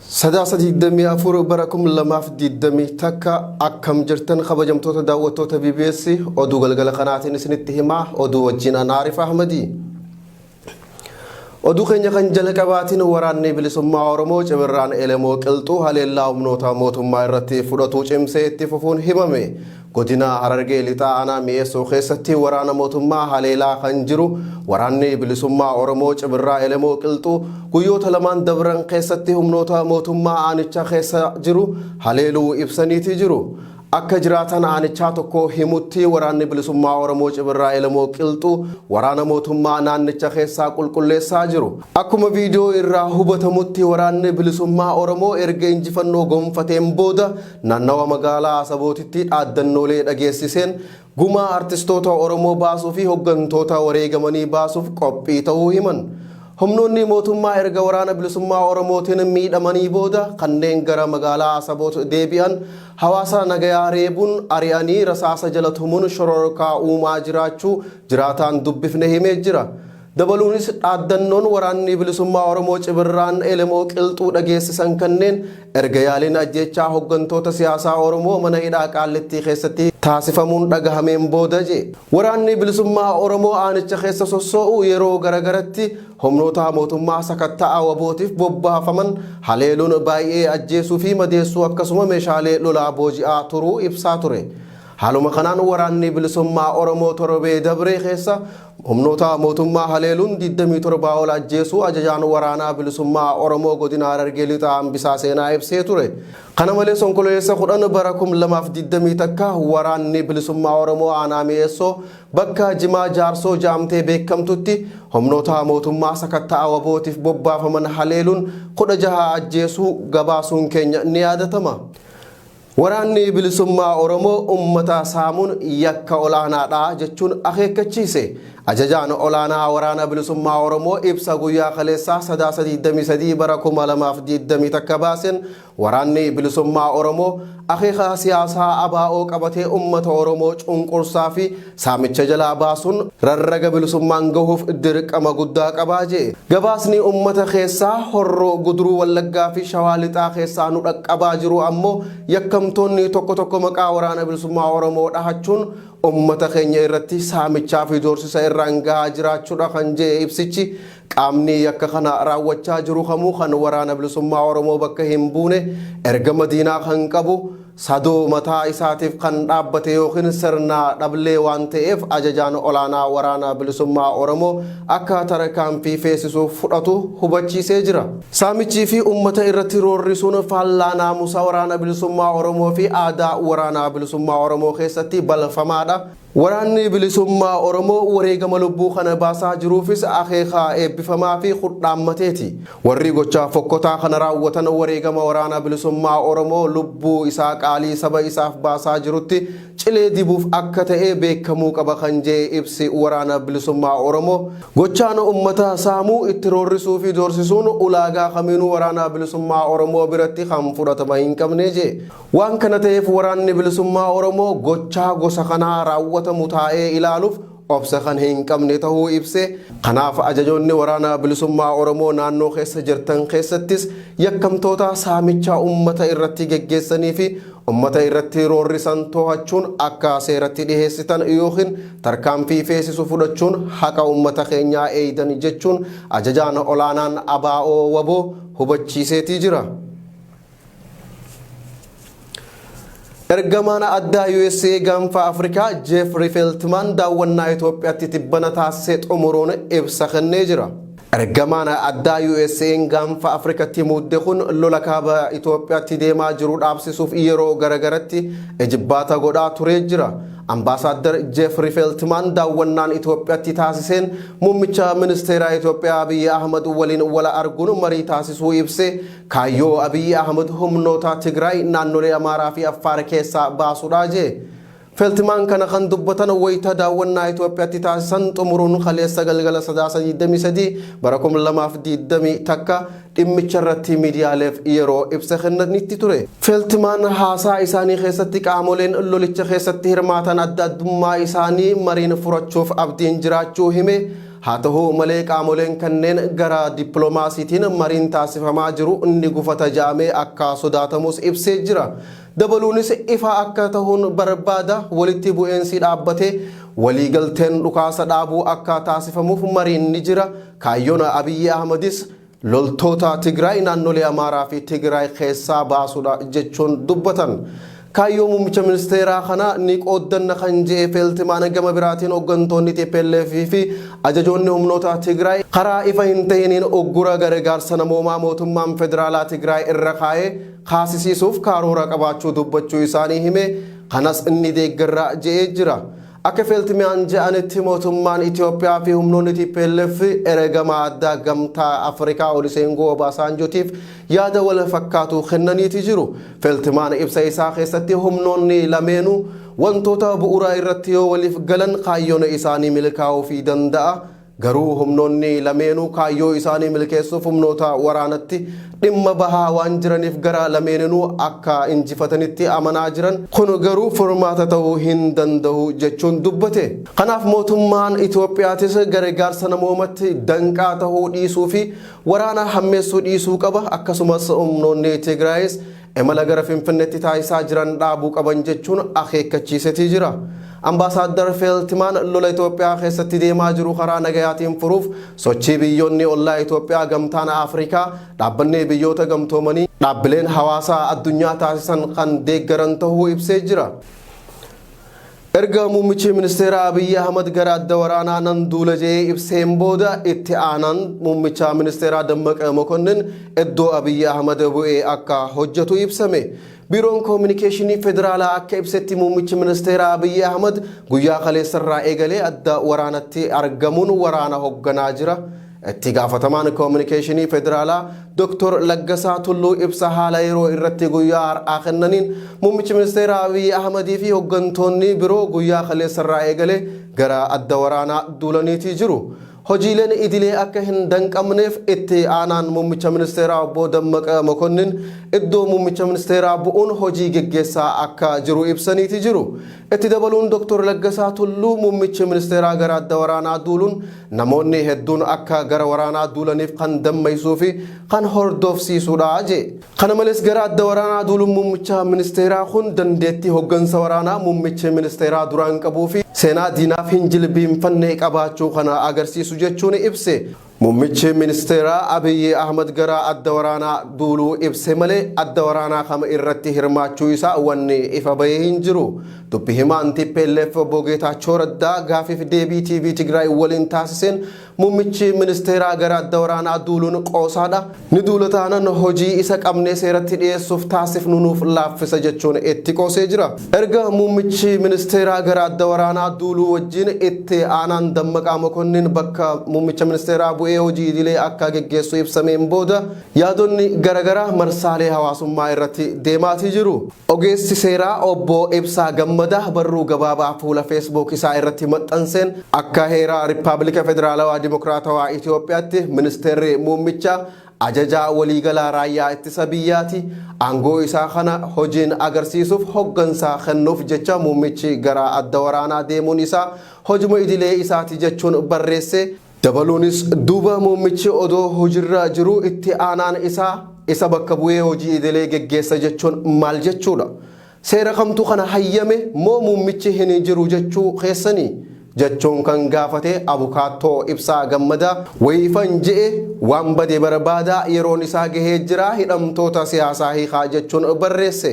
Sadaasa 24 bara 2021 akkam jirtan kabajamtoota daawwattoota BBS oduu galgala kanaatiin isinitti himaa oduu wajjin an Aarif Ahmadi. Oduu keenya kan jalqabaatiin waraanni bilisummaa Oromoo cimirraan Elemoo Qilxuu haleellaa humnoota mootummaa irratti fudhatuu cimsee itti fufuun himame. Godina Harargee Lixaa Aanaa Mi'eessoo keessatti waraana mootummaa haleelaa kan jiru Waraanni Bilisummaa Oromoo Cibirraa Elemoo Qilxuu guyyoota lamaan dabran keessatti humnoota mootummaa aanicha keessa jiru haleeluu ibsaniiti jiru. Akka jiraataan aanichaa tokko himutti Waraanni Bilisummaa Oromoo Cibirraa Elemoo Qilxuu waraana mootummaa naannicha keessaa qulqulleessaa jiru. Akkuma viidiyoo irraa hubatamutti Waraanni Bilisummaa Oromoo erga injifannoo gonfateen booda Naannawa magaalaa Asabootitti dhaaddannoolee dhageessiseen gumaa artistoota Oromoo baasuu fi hoggantoota wareegamanii baasuuf qophii ta'uu himan. Humnoonni mootummaa erga waraana bilisummaa Oromootiin miidhamanii booda kanneen gara magaalaa Asaboot deebi'an hawaasa nagayaa reebuun ari'anii rasaasa jala tumuun shororkaa uumaa jiraachuu jiraataan dubbifne himee jira. Dabaluunis dhaaddannoon Waraanni Bilisummaa Oromoo Cibirraan Elemoo Qilxuu dhageessisan kanneen erga yaaliin ajjeechaa hoggantoota siyaasaa Oromoo mana hidhaa Qaallittii keessatti taasifamuun dhagahameen booda je. Waraanni Bilisummaa Oromoo aanicha keessa sossoo'u yeroo garagaratti humnoota mootummaa sakatta'a wabootiif bobbaafaman haleeluun baay'ee ajjeesuu fi madeessuu akkasuma meeshaalee lolaa booji'aa turuu ibsaa ture. Haaluma kanaan Waraanni Bilisummaa Oromoo torbee dabree keessa Humnoota mootummaa haleeluun 27 ol ajjeesuu ajajaan waraanaa bilisummaa Oromoo godina Harargee Lixaa Hambisaa Seenaa ibsee ture. Kana malees Onkololeessa 10 bara 2020 takka waraanni bilisummaa Oromoo aanaa Mi'eessoo bakka Jimaa Jaarsoo ja'amtee beekamtutti humnoota mootummaa sakatta'a wabootiif bobbaafaman haleeluun 16 ajjeesuu gabaasuun keenya ni yaadatama. Waraanni Bilisummaa Oromoo ummata saamuun yakka olaanaadha jechuun akeekkachiise. Ajajaan Olaanaa Waraana Bilisummaa Oromoo ibsa guyyaa kaleessaa Sadaasa 23 bara 2021 baaseen Waraanni Bilisummaa Oromoo akeeka siyaasaa ABO qabatee ummata Oromoo cunqursaa fi Saamicha jalaa baasuun rarraga bilisummaan gahuuf dirqama guddaa qaba je'e. Gabaasni ummata keessaa Horroo Guduruu Wallaggaa fi Shawaa Lixaa keessaa nu dhaqqabaa jiru ammoo yakkamtoonni tokko tokko maqaa Waraana Bilisummaa Oromoo dhahachuun ummata keenya irratti saamichaa fi doorsisa irraan gahaa jiraachudha kan je'e ibsichi, qaamni yakka kana raawwachaa jiru kamuu kan Waraana Bilisummaa Oromoo bakka hin buune ergama diinaa kan qabu, Sadoo mataa isaatiif kan dhaabbate ykn sirna dhablee waan ta'eef ajajaan olaanaa Waraana Bilisummaa Oromoo akka tarkaanfii feesisuuf fudhatu hubachiisee jira. Saamichii fi uummata irratti roorrisuun faallaa naamusa Waraana Bilisummaa Oromoo fi aadaa Waraana Bilisummaa Oromoo keessatti balfamaadha. Waraanni Bilisummaa Oromoo wareegama lubbuu kana baasaa jiruufis akeeka eebbifamaafi kudhaammateeti. Warri gochaa fokkotaa kana raawwatan wareegama Waraana Bilisummaa Oromoo lubbuu isaa qaalii saba isaaf baasaa jirutti cilee dibuuf akka ta'e beekamuu qaba kan je'e ibsi Waraana Bilisummaa Oromoo, gochaan ummata saamuu, itti roorrisuufi doorsisuun ulaagaa kamiinuu Waraana Bilisummaa Oromoo biratti kan fudhatama hin qabne je'e. Waan kana ta'eef Waraanni Bilisummaa Oromoo gochaa gosa kanaa raawwatamu taa'ee ilaaluuf obsa kan hin qabne ta'uu ibsee, kanaaf ajajoonni Waraana Bilisummaa Oromoo naannoo keessa jirtan keessattis yakkamtoota saamicha ummata irratti geggeessanii fi ummata irratti roorrisan to'achuun akka seeratti dhiheessitan ykn tarkaanfii feesisu fudhachuun haqa ummata keenyaa eeydan jechuun Ajajaan Olaanaan ABO-WBO hubachiiseetii jira. Ergamaan addaa USA gaanfa Afrikaa Jeefri Feeltimaan daawwannaa Itoophiyaatti tibbana taasise xumuruun ibsa kennee jira. Ergamaan addaa USA'n gaanfa Afrikatti muudde kun lola kaaba Itoophiyaatti deemaa jiru dhaabsisuuf yeroo garagaratti ejibbaata godhaa turee jira. Ambaasaaddar Jeefri Feeltimaan daawwannaan Itoophiyaatti taasiseen muummicha ministeeraa Itoophiyaa Abiyyi Ahmad waliin wala arguun marii taasisuu ibsee Kaayyoo Abiyyi Ahmad humnoota Tigraay naannolee Amaaraa fi Affaar keessaa baasuudha jee. Feltimaan kana kan dubbatan wayita daawwannaa Itoophiyaatti taasisan xumuruun kaleessa galgala Sadaasa 23 bara 2021 dhimmicha irratti miidiyaaleef yeroo ibsa kennanitti ture. Feltimaan haasaa isaanii keessatti qaamoleen lolicha keessatti hirmaatan adda addummaa isaanii mariin furachuuf abdiin jiraachuu hime. Haa tahu malee qaamoleen kanneen gara dippilomaasiitiin mariin taasifamaa jiru ni gufata ja'amee akka sodaatamus ibsee jira. Dabaluunis ifa akka tahuun barbaada walitti bu'eensi dhaabbatee walii galteen dhukaasa dhaabuu akka taasifamuuf mariin ni jira. Kaayyoon Abiyyi Ahmadis Loltoota Tigraay naannolee Amaaraa fi Tigraay keessaa baasuudha jechuun dubbatan. Kaayyoo muummicha ministeeraa kana ni qooddanna kan je'e Feeltimaan gama biraatiin hoggantoonni tplf fi ajajoonni humnoota Tigraay karaa ifa hin tahiniin uggura gargaarsa namoomaa mootummaan federaalaa Tigraay irra kaa'e kaasisiisuuf kaaroora qabaachuu dubbachuu isaanii himee kanas ni deeggarra je'ee jira. Akka Feltmian je'anitti mootummaan Itoophiyaa fi humnoonni tplf eregamaa addaa Gamtaa Afrikaa Oluseenguu Obaasaanjootiif yaada wal fakkaatu kennaniiti jiru. Feltmaan ibsa isaa keessatti humnoonni lameenuu wantoota bu'uraa irratti yoo waliif galan kaayyoon isaanii milkaa'uufii danda'a, Garuu humnoonni lameenuu kaayyoo isaanii milkeessuuf humnoota waraanatti dhimma bahaa waan jiraniif gara lameeninuu akka injifatanitti amanaa jiran. Kun garuu furmaata ta'uu hin danda'u jechuun dubbate. Kanaaf mootummaan Itoophiyaatis garegaarsa namoomatti danqaa ta'uu dhiisuufi waraana hammeessuu dhiisuu qaba. Akkasumas humnoonni Tigraayis imala gara Finfinnetti taasisaa jiran dhaabuu qaban jechuun akeekkachiisetii jira. Ambaasaaddar Feeltimaan lola Itoophiyaa keessatti deemaa jiru karaa nagayaatiin furuuf sochii biyyoonni ollaa Itoophiyaa gamtaan Afrikaa, dhaabbanni biyyoota gamtoomanii, dhaabbileen hawaasaa addunyaa taasisan kan deeggaran tahuu ibsee jira. Erga muummichi ministeeraa Abiyyi Ahmad gara adda waraanaa nan duula jedhee ibseen booda itti aanaan muummicha ministeeraa Dammaqa Mokonnin iddoo Abiyyi Ahmad bu'ee akka hojjetu ibsame. Biiroon Koominikeeshinii Federaalaa akka ibsetti muummichi ministeeraa Abiyyi Ahmad guyyaa kaleessarraa eegalee adda waraanatti argamuun waraana hogganaa jira. Itti gaafatamaan Koominikeeshinii Federaalaa Doktor Laggasaa Tulluu ibsa haala yeroo irratti guyyaa har'aa kennaniin Muummichi Ministeeraa Abiyyi Ahmadii fi hoggantoonni biroo guyyaa kaleessarraa eegalee gara adda waraanaa duulaniitii jiru. Hojiileen idilee akka hin danqamneef itti aanaan Muummicha Ministeeraa Obbo Dammaqa Mokonnin iddoo Muummicha Ministeeraa bu'uun hojii geggeessaa akka jiru ibsaniitii jiru. Itti dabaluun Doktor Laggasaa Tulluu muummichi ministeeraa gara adda waraanaa duuluun namoonni hedduun akka gara waraanaa duulaniif kan dammaysuu fi kan hordoofsiisuudha jee. Kana malees gara adda waraanaa duuluun muummicha ministeeraa kun dandeettii hoggansa waraanaa muummichi ministeeraa duraan qabuu fi seenaa diinaaf hin jilbiinfanne qabaachuu kana agarsiisu jechuun ibse. Mummichi ministeeraa Abiyyi Ahmad gara adda waraanaa duuluu ibse malee adda waraanaa kam irratti hirmaachuu isaa wanni ifa bahe hin jiru. Dubbi himaan tplf Obbo Geetaachoo Raddaa gaafiif deebii TV Tigraay waliin taasiseen mummichi ministeeraa gara adda waraanaa duuluun qoosaadha, Ni duula taanan hojii isa qabnee seeratti dhiyeessuuf taasifnu nuuf laaffisa jechuun itti qoosee jira. Erga muummichi ministeeraa gara adda waraanaa duuluu wajjin itti aanaan Dammaqaa Mokonnin bakka muummicha ministeeraa bu'ee hojii idilee akka geggeessu ibsameen booda yaadonni garagaraa marsaalee hawaasummaa irratti deemaatii jiru. Ogeessi seeraa Obbo Ibsaa Gammadaa barruu gabaabaa fuula Facebook isaa irratti maxxanseen akka heera Rippaabilika Federaalawaa Dimokiraatawaa Itoophiyaatti Ministeerri Muummichaa Ajajaa Waliigalaa Raayyaa Ittisa Biyyaati, aangoo isaa kana hojiin agarsiisuuf hoggansa kennuuf jecha muummichi gara adda waraanaa deemuun isaa hojuma idilee isaati jechuun barreesse. Dabaluunis duuba muummichi odoo hojirra jiruu itti aanaan isaa isa bakka bu'ee hojii idilee geggeessa jechuun maal jechuudha? Seera kamtu kana hayyame moo muummichi hin jiru jechuu keessanii? jechuun kan gaafate abukaattoo Ibsaa Gammadaa wayiifan je'e waan bade barbaadaa yeroon isaa gahee jira hidhamtoota siyaasaa hiikaa jechuun barreesse.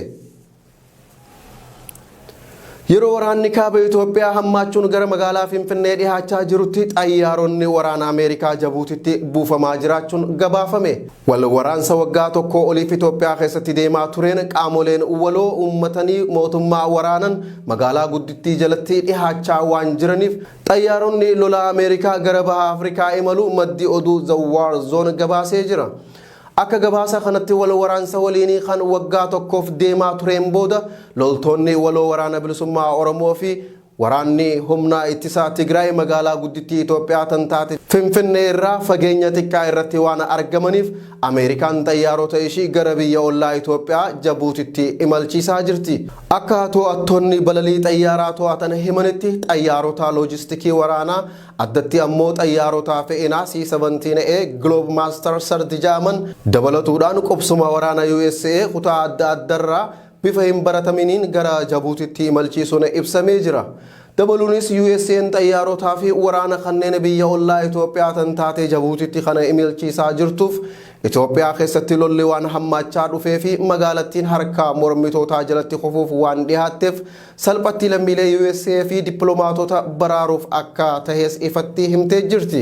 Yeroo waraanni kaaba Itoophiyaa hammaachuun gara magaalaa Finfinnee dhihaachaa jirutti xayyaaronni waraana Ameerikaa Jabuutitti buufamaa jiraachuun gabaafame. Wal waraansa waggaa tokkoo oliif Itoophiyaa keessatti deemaa tureen qaamoleen waloo uummatanii mootummaa waraanan magaalaa guddittii jalatti dhihaachaa waan jiraniif xayyaaronni lolaa Ameerikaa gara baha Afrikaa imalu maddi oduu The War Zone gabaasee jira. Akka gabaasa kanatti wal waraansa waliinii kan waggaa tokkoof deemaa tureen booda loltoonni waloo Waraana Bilisummaa Oromoo fi Waraanni Humna Ittisaa Tigraay magaalaa guddittii Itoophiyaa tan taate Finfinnee irraa fageenya xiqqaa irratti waan argamaniif Ameerikaan xayyaarota ishii gara biyya ollaa Itoophiyaa Jabuutitti imalchiisaa jirti. Akka to'attoonni balalii xayyaaraa to'atan himanitti xayyaarota loojistikii waraanaa Addatti ammoo xayyaarota fe'inaa C-17A Globemaster Surge ja'aman dabalatuudhaan qubsuma waraana usa kutaa adda addarraa bifa hin barataminiin gara Jabuutitti imalchiisuun ibsamee jira. Dabaluunis USAn xayyaarota fi waraana kanneen biyya ollaa Itoophiyaa tan taate Jabuutitti kana imalchiisaa jirtuuf Itoophiyaa keessatti lolli waan hammaachaa dhufee fi magaalattiin harka mormitootaa jalatti kufuuf waan dhihaatteef Salphatti lammiilee USA fi dippilomaatota baraaruuf akka tahes ifatti himtee jirti.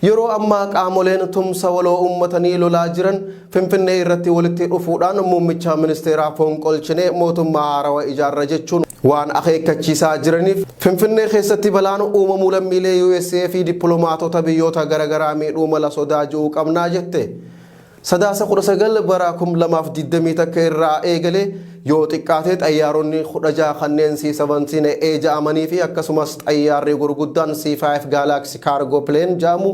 Yeroo ammaa qaamoleen tumsa waloo uummatanii lolaa jiran Finfinnee irratti walitti dhufuudhaan muummicha ministeeraa fonqolchinee mootummaa haarawa ijaarra jechuun waan akeekkachiisaa jiraniif Finfinnee keessatti balaan uumamuu lammiilee USA fi dippilomaatota biyyoota garagaraa miidhuu mala sodaa ji'u qabnaa jette. Sadaasa 19 bara 2020 takka irraa eegalee yoo xiqqaate xayyaaronni 16 kanneen C-17A ja'amanii fi akkasumas xayyaarri gurguddaan C-5 Galaxy Cargo Plane ja'amu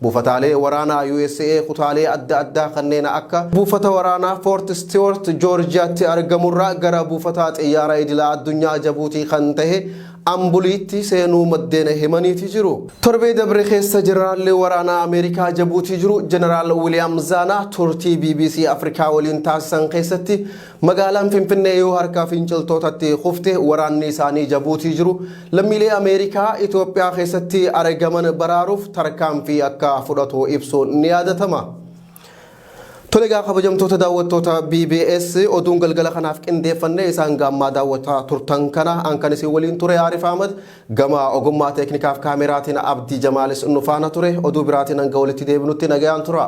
buufataalee waraanaa USA kutaalee adda addaa kanneen akka buufata waraanaa Fort Stewart Joorjiyaatti argamurraa gara buufataa xiyyaaraa idila addunyaa Jabuutii kan tahe Ambuliitti seenuu maddeen himaniiti jiru. Torbee dabre keessa Jeneraalli waraanaa Ameerikaa Jabuutii jiru Jeneraal Wiliyaam Zaanaa turtii bbc Afrikaa waliin taasisan keessatti magaalaan Finfinnee yoo harka finciltootatti kufte waraanni isaanii Jabuutii jiru lammiilee Ameerikaa Itoophiyaa keessatti aregaman baraaruuf tarkaanfii akka fudhatu ibsuun ni yaadatama. Tole egaa kabajamtoota daawwattoota BBS oduun galgala kanaaf qindeeffannee isaan gaammaa daawwataa turtan kana an kan isin waliin ture Aarif Ahmad gama ogummaa teeknikaaf kaameraatiin Abdii Jamaalis nu faana ture oduu biraatiin hanga walitti deebinutti nagayaan tura.